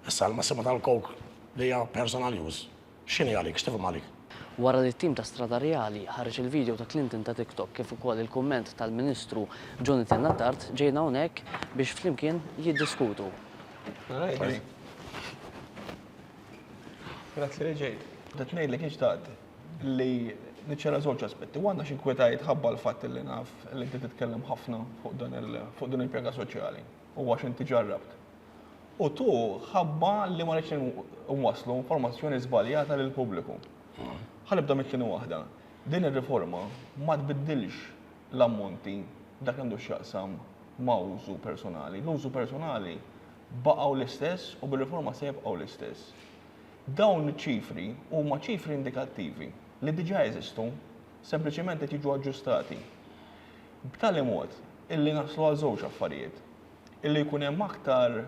Issa l-massimu tal-coke li hija personal use x'inhi għalik, x'tifhem għalik? Wara li t-tim ta' Strada Reali ħareġ il-video ta' Clinton ta' TikTok kif ukoll il-kumment tal-Ministru Jonathan Attard ġejna hawnhekk biex flimkien jiddiskutu. Grazzi li ġejt. Bdejt ngħidlek li xtaqt li niċċara żewġ aspetti. Waħda x'inkwetajt ħabba l-fatt li naf li inti titkellem ħafna fuq din il-pjaga soċjali. u għax inti ġarrabt. U tu ħabba li ma rridx nwasslu informazzjoni żbaljata lill-pubbliku. Ħa nibda mit-tieni waħda. Din ir-riforma ma tbiddilx l-ammonti f'dak li għandu x'jaqsam ma' użu personali. L-użu personali baqgħu l-istess u bir-riforma se jibqgħu l-istess. Dawn iċ-ċifri huma ċifri indikattivi li diġà jeżistu, sempliċement qed jiġu aġġustati. b'tali mod illi naslu għal żewġ affarijiet, illi jkun hemm aktar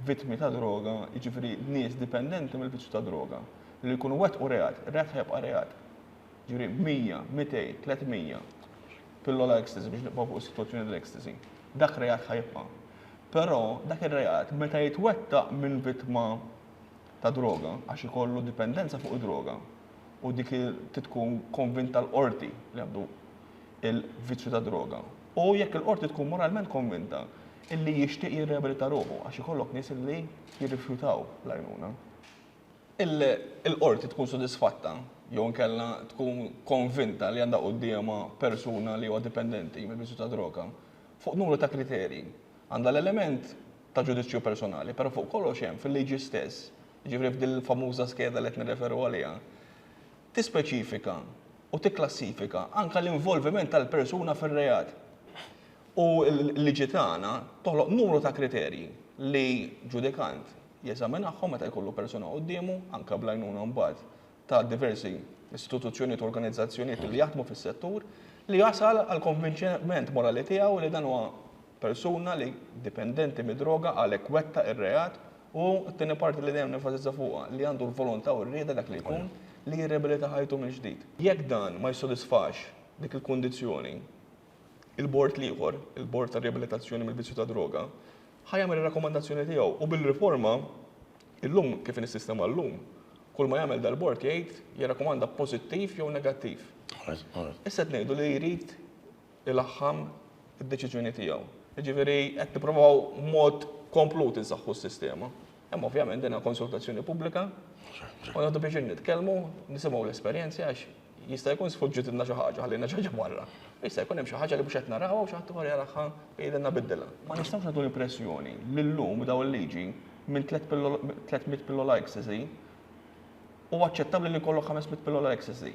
vittmi ta' droga, jiġifieri nies dipendenti mill-vizzju tad-droga, li jkunu wettqu reat, ir-reat ħa jibqa' reat. Jiġifieri 100, 200, 300 pillola ecstasy, biex nibqgħu fuq is-sitwazzjoni tal-ecstasy, dak reat ħa jibqa'. Però dak ir-reat meta jitwettaq minn vittma ta' droga, għax ikollu dipendenza fuq id-droga, u dik trid tkun konvinta l-qorti li għandu il-vizzju tad-droga u jekk il-qorti tkun moralment konvinta illi jixtieq jirriabilita ruħu għax ikollok nies illi jirrifjutaw l-għajnuna. Il-qorti tkun sodisfatta jew inkella tkun konvinta li għandha quddiemha persuna li huwa dipendenti mill-vizzju tad-droga fuq numru ta' kriterji. Għandha l-element ta' ġudizzju personali, però fuq kollox hemm fil-liġi stess, jiġifieri f'din il-famuża skeda li qed nirreferu għaliha, tispeċifika u tikklassifika anke l-involviment tal-persuna fir-reat. U l-liġi tagħna toħloq numru ta' kriterji li ġudikant jeżaminahom meta jkollu persuna quddiemu, anke bl-għajnuna mbagħad ta' diversi istituzzjonijiet u organizzazzjonijiet li jaħdmu fis-settur, li jasal għall-konvinċiment morali tiegħu li dan huwa persuna li dipendenti mid-droga għalhekk wettaq ir-reat, u t-tieni parti li dejjem nenfasizza fuqha, li għandu l-volontà u r-rieda, dak li jkun, li jirriabilita ħajtu mill-ġdid. Jekk dan ma jissodisfax dik il-kundizzjoni, il-bord l-ieħor, il-bord tar-riabilitazzjoni mill-vizzju tad-droga, ħa jagħmel ir-rakkomandazzjoni tiegħu u bil-riforma, illum kif inhi s-sistema llum, kull ma jagħmel dal-bord jgħid jirrakkomanda pożittiv jew negattiv. Issa qed ngħidu li jrid ilaħħam id-deċiżjoni tiegħu. Jiġifieri qed nipprovaw mod komplut insaħħu s-sistema. Hemm ovvjament din konsultazzjoni pubblika u nagħtu biex nitkellmu, nisimgħu l-esperjenzi għax jista' jkun sfuġġit inna xi ħaġa ħallina xi ħaġa barra. Jista' jkun hemm xi ħaġa li mhux qed narawha u xi ħadd ieħor jaraha jgħidilna biddilha. Ma nistgħux nagħtu l-impressjoni li llum daw il-liġi minn 300 pillola ecstasy u aċċettabbli li jkollok 500 pillola ecstasy.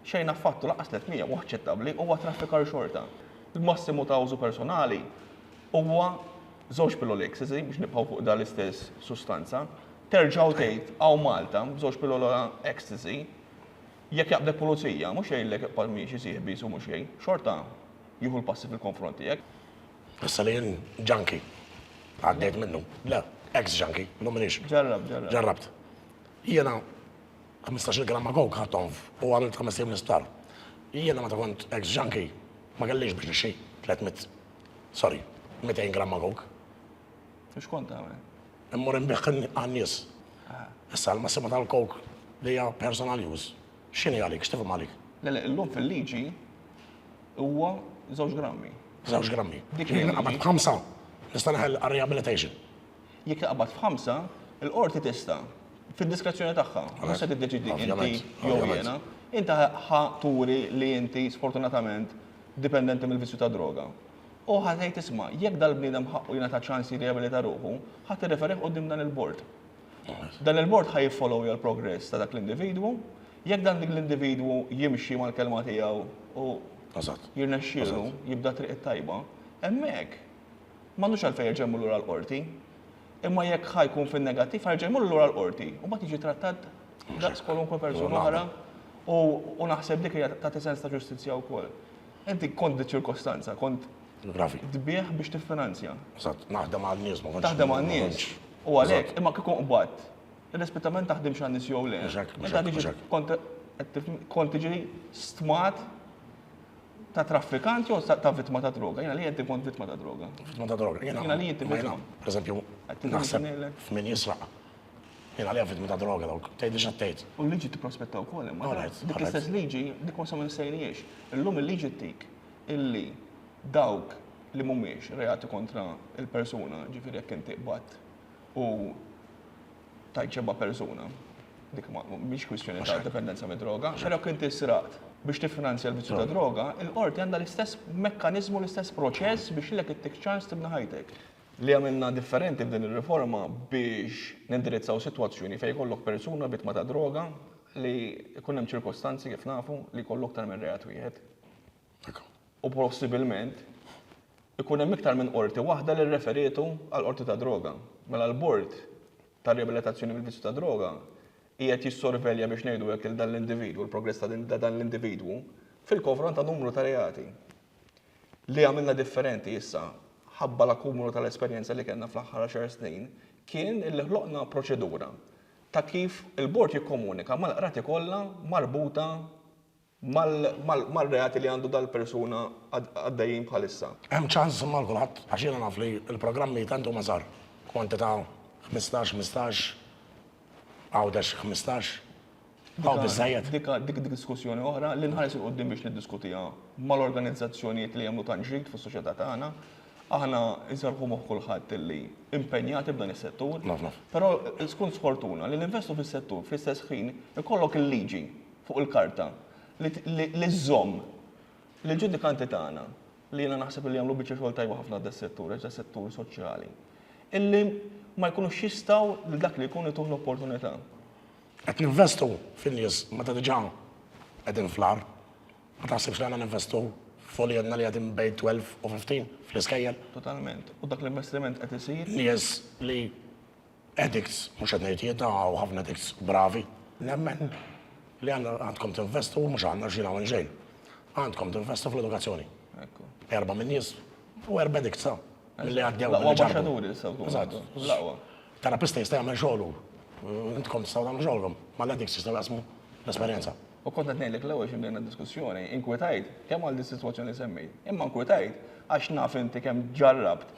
Xejn affattu, lanqas 300 mhu aċċettabbli, huwa traffikar xorta. Il-massimu ta' użu personali huwa żewġ pilloli ecstasy, biex nibqgħu fuq dan l-istess sustanza. Terġa' u tgħid, hawn Malta, b'żewġ pillola ecstasy, jekk jaqbdek pulizija, mhux jgħidlek iqbad miexi sieħbi su mhux jgħin, xorta jieħu l-passi fil-konfront tiegħek. Issa li jien junkie, għaddejt minnu, le, ex-junkie, illum m'iniex. Ġarrabt, ġarrabt. Ġarrabt. Jiena Ħmistax-il gramma coke ħadthom u għamilt ħames ijiem l-isptar. Jiena meta kont ex-junkie ma kellix biex nixxi tliet mitt, sorry, mitejn gramma coke. U x'kont tagħmel? Immur inbigħ għan-nies. Issa l-massimu tal-coke li hija personal use, x'inhi għalik, x'tifhem għalik? Le le, illum fil-liġi huwa żewġ grammi. Żewġ grammi. Dik il-liġi. Jiena qabad b'ħamsa nista' neħel għar-rehabilitation. Jekk taqbad f'ħamsa, il-qorti tista', fid-diskrezzjoni tagħha, mhux se tiddeċiedi inti jew jiena, inti ħa turi li inti sfortunatament dipendenti mill-vizzju tad-droga. U ħa tgħid isma', jekk dal-bniedem ħaqqu jingħata ċans jirrijabilita ruħu, ħa tirreferih quddiem dan il-bord. Dan il-bord ħa jiffollowja l-progress ta' dak l-individwu, jekk dan dik l-individwu jimxi mal-kelma tiegħu u jirnexxielu jibda t-triq it-tajba, hemmhekk M'għandux għalfejn jerġa' jmur lura l-Qorti. Imma jekk ħa jkun fin-negattiv ħa jerġa' jmur lura l-Qorti u mbagħad jiġi trattat daqs kwalunkwe persuna oħra u naħseb dik hija tagħti sens ta' ġustizzja wkoll. Inti kont di ċirkostanza, kont tbigħ biex tiffinanzja. Eżatt, naħdem għan-nies ma kontx. Taħdem għan-nies. U għalhekk, imma kieku nqbadt, irrispettivament taħdimx għan-nies jew le, kont tiġi stmat ta' traffikant jew ta' vittma ta' droga. Jena li jenti kont vittma ta' droga. Vittma ta' droga. Jena li jenti vittma. Per eżempju, naħseb f'min jisraq. Jena li vittma ta' droga dawk. Tgħid li xattejt. U l-liġi tipprospetta wkoll imma. Dik l-istess liġi dik ma samu nsejnijiex. Illum il-liġi tik illi dawk li mhumiex reati kontra il-persuna, ġifieri jekk inti qbadt u tajt xebba persuna. Dik mhix kwistjoni ta' dipendenza mid-droga, però kien tisraqt biex tiffinanzja l-vizzju ta' droga, il-qorti għandha l-istess mekkaniżmu, l-istess proċess biex lilek ittik ċans tibni ħajtek. Li għamilna differenti f'din ir-riforma biex nindirizzaw sitwazzjoni fejn jkollok persuna vittma ta' droga li jkun hemm ċirkostanzi, kif nafu, li jkollu aktar minn reat wieħed. u possibilment ikun hemm iktar minn qorti waħda li rreferietu għall-qorti tad-droga. Mela l-bord ta' riabilitazzjoni mill-vizzju tad-droga qiegħed jissorvelja biex ngħidu hekk lil dan l-individwu, l-progress ta' dan l-individwu fil-konfront ta' numru ta' reati li għamilna differenti issa ħabba l-akkumulu tal-esperjenza li kellna fl-aħħar għaxar snin kien illi ħloqna proċedura ta' kif il-bord jikkomunika mal-qrati kollha marbuta mar-reati li għandu dal-persuna għaddejjin bħalissa. Hemm ċans imma għal kulħadd għax jiena naf li l-programmi tant huma żgħar, kwantità ħmistax, ħmistax, Għawdex ħmistax, hawn biżżejjed. Dik dik diskussjoni oħra li nħares 'il quddiem biex niddiskutiha mal-organizzazzjonijiet li jagħmlu tant ġid fis-soċjetà tagħna. Aħna nserrħu moħħ kulħadd li impenjati f'dan is-settur. Naf, naf. Però tkun sfortuna li ninvestu fis-settur fl-istess ħin ikollok il-liġi fuq il-karta, li żżomm lill-ġudikanti tagħna, li jiena naħseb li jagħmlu biċċa xogħol tajba ħafna das-settur, għax das-settur soċjali, illi ma jkunux jistgħu lil dak li jkun ituh l-opportunità. Qed ninvestu fin-nies meta diġà qegħdin fl-agħar. Ma taħsibx li għandna ninvestu f'uliedna li qegħdin bejn 12 u 15 fl-iskejjel? Totalment. U dak l-investiment qed isir? Nies li Addicts, mhux qed ngħid jien, hawn ħafna addicts bravi. Nemmen li għandkom tinvestu mhux għandna xi nagħmel xejn. Għandkom tinvestu fl-edukazzjoni. Erba' minn nies u erba' addicts sa. Li għaddew. Laqwa baxxaturi issa wkoll. Terapista jista' jagħmel xogħlu. Intkom tistgħu tagħmlu xogħolkom. Ma l-addicts jistgħu jaqsmu l-esperjenza. U kont qed ngħidlek l-ewwel xi bdejna diskussjoni, inkwetajt kemm għal dis-sitwazzjoni li semmejt, imma nkwetajt għax naf inti kemm ġarrabt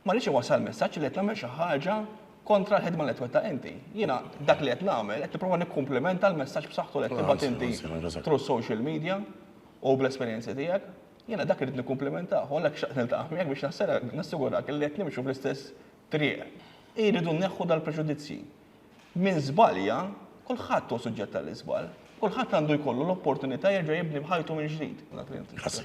Ma rridx inwassal messaġġ li qed nagħmel xi ħaġa kontra l-ħidma li qed twettaq inti. Jiena dak li qed nagħmel qed nipprova nikkumplimenta l-messaġġ b'saħħtu li qed tibgħat inti through social media u bl-esperjenzi tiegħek. Jiena dak irrid nikkumplimentah u għalhekk xtaqt niltaqa' miegħek biex nassigurak li qed nimxu fl-istess triq. Irridu nneħħu dal-preġudizzji. Min żbalja, kulħadd hu suġġett għall-iżball. Kulħadd għandu jkollu l-opportunità jerġa' jibni b'ħajtu mill-ġdid. Grazzi.